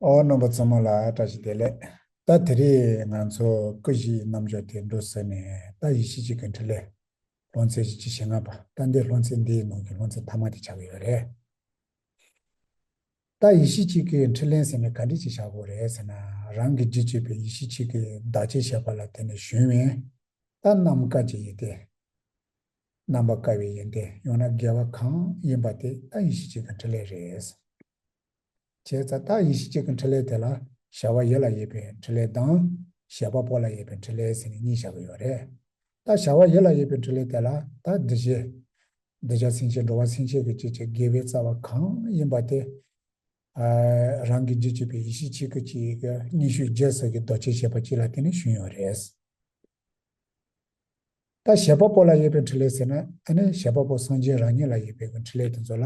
ཨོ་རྣམ་པ་གཙོ་མོ་ལ་བཀྲ་ཤིས་བདེ་ལེགས། ད་དེ་རིང་ང་ཚོ་ཀུན་གཞི་ཡི་རྣམ་འཇོག་དེ་འགྲོ་ཟེར་ནས་ད་ཡི་གཞི་གཅིག་གི་འཕྲིན་ལས་ལྷོ་མཚན་གཞི་གཅིག་ཞེ་ལྔ་པ་ད་འདི་ལྷོ་མཚན་འདིའི་ནང་གི་ལྷོ་མཚན་མཐའ་མ་དེ་བྱ་གི་ཡོད་རེད། ད་ཡི་གཞི་གཅིག་གི་འཕྲིན་ལས་ཟེར་ནས་ག་འདྲི་ཅིག་བྱ་དགོས་རེད་ཟེར་ན་རང་གི་འདྲི་གཅིག་པའི་ཡི་གཞི་གཅིག་གི་བདག་ཅེས་བཤད་པ་ལ་དེ་ནི་གཞོན་བན། ད་རྣམ་དཀར་གྱི་ཡིན་ཏེ། རྣམ་པ་དཀར་བའི་ཡིན་ཏེ་ཡང་ན་རྒྱལ་བ་གང་ཡིན་པ་དེ་ད་ཡི་གཞི་གཅིག་གི་འཕྲིན་ལས་རེད། བྱས་རྩ་རྟགས་ཡེ་ཤེས་གཅིག་གི་འཕྲིན་ལས་དེ་ལ་བྱ་བ་ཡེ་ལ་ཡོད་པའི་འཕྲིན་ལས་དང། བྱེད་པ་པོ་ལ་ཡོད་པའི་འཕྲིན་ལས་ཟེར་ནས་གཉིས་བྱ་གི་ཡོད་རེད། ད་བྱ་བ་ཡེ་ལ་ཡོད་པའི་འཕྲིན་ལས་དེ་ལ་ད་འདི་བྱས། འདི་བྱ་སེམས་ཅན་འགྲོ་བ་སེམས་ཅན་གྱི་བཅུད་ཀྱི་དགེ་བའི་རྩ་བ་གང་ཡིན་པ་དེ། རང་གི་རྒྱུད་གཅིག་པའི་ཡེ་ཤེས་གཅིག་གི་གཅིག་གི་ཉི་ཤུ་རྗེས་སུ་གི་རྡོ་རྗེ་བྱེད་པ་གཅིག་ལ་བརྟེན་ནས་བྱུང་ཡོད་རེད། ད་བྱེད་པ་པོ་ལ་ཡོད་པའི་འཕྲིན་ལས་ཟེར་ན་ཨ་ནི་བྱེད་པ་པོ་སངས་རྒྱས་རང་ཉིད་ལ་ཡོད་པའི་གི་འཕྲིན་ལས་དེ་ཚོ་ལ།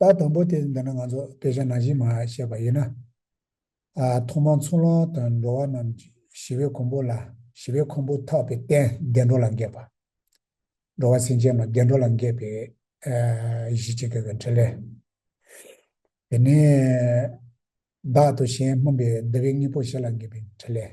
ལྟ་དང་པོ་དེ་འདི་ནི་ང་ཚོ་སྐད་ཆ་ནང་བཞིན་མ་བཤད་པ་ཡིན་ན། ཐོག་མར་འཚོ་ལོང་དང་འགྲོ་བ་རྣམས་ཀྱི་ཞི་བའི་གོང་བུ་ལ་ཞི་བའི་ཁུང་བུ་འཐག་པའི་རྟེན་བདེ་འགྲོ་ལ་འགེབས་པ། འགྲོ་བ་སེམས་ཅན་རྣམས་བདེ་འགྲོ་ལ་འགེབས་པའི་གཞི་གཅིག་གི་འཕྲིན་ལས། དེ་ནས་བདག་དང་གཞན་སྨོན་པའི་བདེ་བའི་དངོས་པོ་བཞི་ལ་འགེབས་པའི་འཕྲིན་ལས།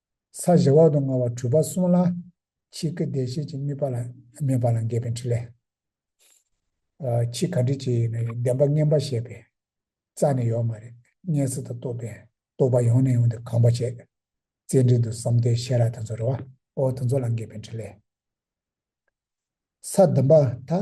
ས་གཞི་འོག་ཏུ་མངའ་བ་གྲུབ་པ་གསུངས་ལ། ཆིག་གི་བདེ་གཤེགས་ཀྱི་དམིགས་པ་ལ་གནས་པ་ལ་འགལ་བའི་འཕྲིན་ལས། ཆིག་ག་འདྲི་བྱེད་ཡིན་ན་བདེན་པ་ངན་པ་བཤད་པས་རྩ་ནས་ཡོག་མ་རེད་སྙན་ཚིག་དང་བསྟོད་པས་རྟོག་པ་ཡོང་ནས་ཡོང་དུ་གང་བ་བྱས། རྩེ་འགྲེལ་དུ་བསམ་གཏན་ཤེས་རབ་དང་ཚོར་བ་འོ་དང་ཚོར་ལ་འགལ་བའི་འཕྲིན་ལས། ས་བདུན་པ་དག་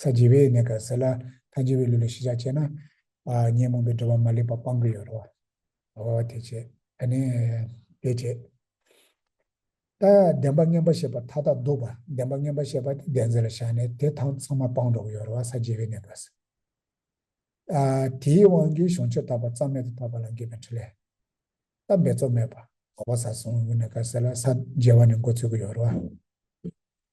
ས་བརྗེ་བའི་གནད་ཀ་ཟེར་ལ་ཐ་བརྗེ་བའི་ལུས་ལ་ཞི་ཆགས་བྱས་ན། ཉོན་མོངས་པའི་འགྲོ་བ་མ་ལུས་པ་སྤང་གི་ཡོད་རོ། འོ་དེ་བྱེད། ད་ནི་དེ་བྱེད། ད་བདེན་པ་ངན་པ་ཞེས་པ་མཐའ་དག་སྡུག་པ་བདེན་པ་ངན་པ་ཞེས་པ་དེ་བདེན་རྫས་ལ་བཞག་ནས་དེ་དང་ཚང་མ་སྤང་འགྲོ་གི་ཡོད་རོ་བ་ས་བརྗེ་བའི་གནད་ཀ་ཟེར། དེའི་དབང་གིས་གཞུང་ཆེར་དག་པ་རྩ་མེད་དུ་དག་པ་ལ་འགེབས་པའི་འཕྲུལ་ལས། ད་འབད་རྩོལ་མེད་པ། འོ་བ་ས་བཟུང་གི་གནད་ཀ་ཟེར་ལ་ས་བརྗེ་བ་ནི་འགོ་ཚུགས་ཀྱི་ཡོད་རོ་བ།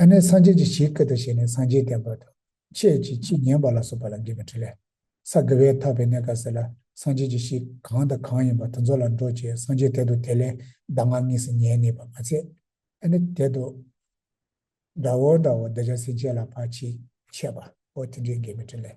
ཨ་ནི་སངས་རྒྱས་ཀྱི་གཞིའི་སྐད་དུ་བྱས་ནས་སངས་རྒྱས་བསྟན་པ་དང་བཅས་ཀྱི་ཕྱིས་ཉན་པ་ལ་སོགས་པ་ལ་འགལ་བའི་དྲི་ལས། ས་དགེ་བས་འཐབ་པའི་གནས་སྐབས་སེ་ལ་སངས་རྒྱས་ཀྱི་གཞི་གང་དང་གང་ཡིན་པ་དེ་ཚོ་ལ་འགྲོ་ཅེས་སངས་རྒྱས་དད་དུ་དེ་ལས་གདམས་ངག་གཉིས་སུ་ཉན་ངེས་པ་མ་ཚད། ཨ་ནི་དད་དུ། དགྲ་བོ་དགྲ་བོ་བདེ་བྱ་སེམས་ཅན་ལ་ཕར་ཕྱིན་ཆད་པ་པོ་དེ་འདྲའི་འགལ་མེད་དྲི་ལས།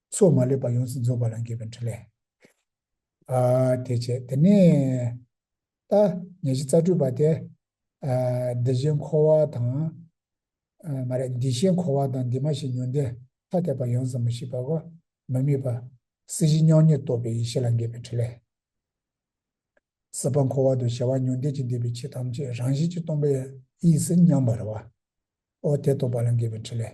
སོགས་མ་ལུས་པ་ཡོངས་སུ་རྫོགས་པ་ལ་འགྱུར་བའི་འཕྲིན་ལས། དེ་བྱས་དེ་ནས། ད་ཉེར་བཞི་རྩ་སྤྲུལ་པ་དེ། འདི་བཞིན་འཁོར་བ་དང། མ་རེད་འདི་ཞེས་འཁོར་བ་དང་འདི་མ་ཞེས་ཉོན་ཏེ་ཐ་དད་པ་ཡོངས་སུ་མི་ཤེས་པའོ། མི་དམིགས་པ། སྲིད་ཞི་མྱོང་ཉིད་རྟོགས་པའི་ཡེ་ཤེས་ལ་འགལ་བའི་འཕྲིན་ལས། སྲིད་པ་འཁོར་བ་དང་བྱ་བ་ཉོན་འདས་ཀྱི་འདས་པའི་ཆོས་ཐམས་ཅད་རང་བཞིན་གྱིས་སྟོང་པའི། དབྱིངས་སུ་མཉམ་པར་བ། ཨོ་དེ་རྟོགས་པ་ལ་འགལ་བའི་འཕྲིན་ལས།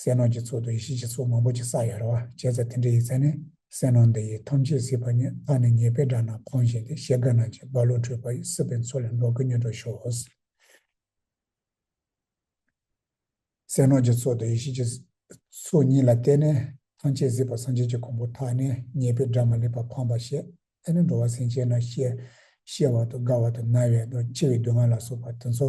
ཟས་ནོར་གྱི་ཚོགས་དུ་ཡེ་ཤེས་ཀྱི་ཚོགས་མང་པོ་ཅིག་བསགས་ཡོད་རེ་བ་བྱས་ཚེ་དེ་འདྲའི་ཡིག་ཚན་ནས་ཟས་ནོར་འདི་ཡིས་ཐམས་ཅད་སྲིད་པ་ཉིད་ལྷ་ནི་ཉེས་པའི་དགྲ་རྣམས་གང་བཞིན་ཏེ་ཞེ་དགའ་ན་ཅིག་བ་བློ་གྲོས་པ་ཡིས་སྲིད་པའི་མཚོ་ལས་འབྲོག་གི་མྱུར་དུ་ཤོག། ཟས་ནོར་གྱི་ཚོགས་དུ་ཡེ་ཤེས་ཀྱི་ཚོགས་ཉིད་ལ་བརྟེན་ནས་ཐམས་ཅད་སྲིད་པ་སངས་རྒྱས་ཀྱི་གོང་བུ་དག་ནི་ཉེས་པའི་དགྲ་མ་ལུས་པ་འཕངས་པར་བྱེད་ཨེ་ནི་འགྲོ་བ་སེམས་ཅན་རྣམས་གཤེ་གཤེ་བ་དང་དགའ་བ་དང་ན་བའི་དང་འཆི་བའི་སྡུག་བསྔལ་ལ་སོགས་པ་དེ་ཚོ།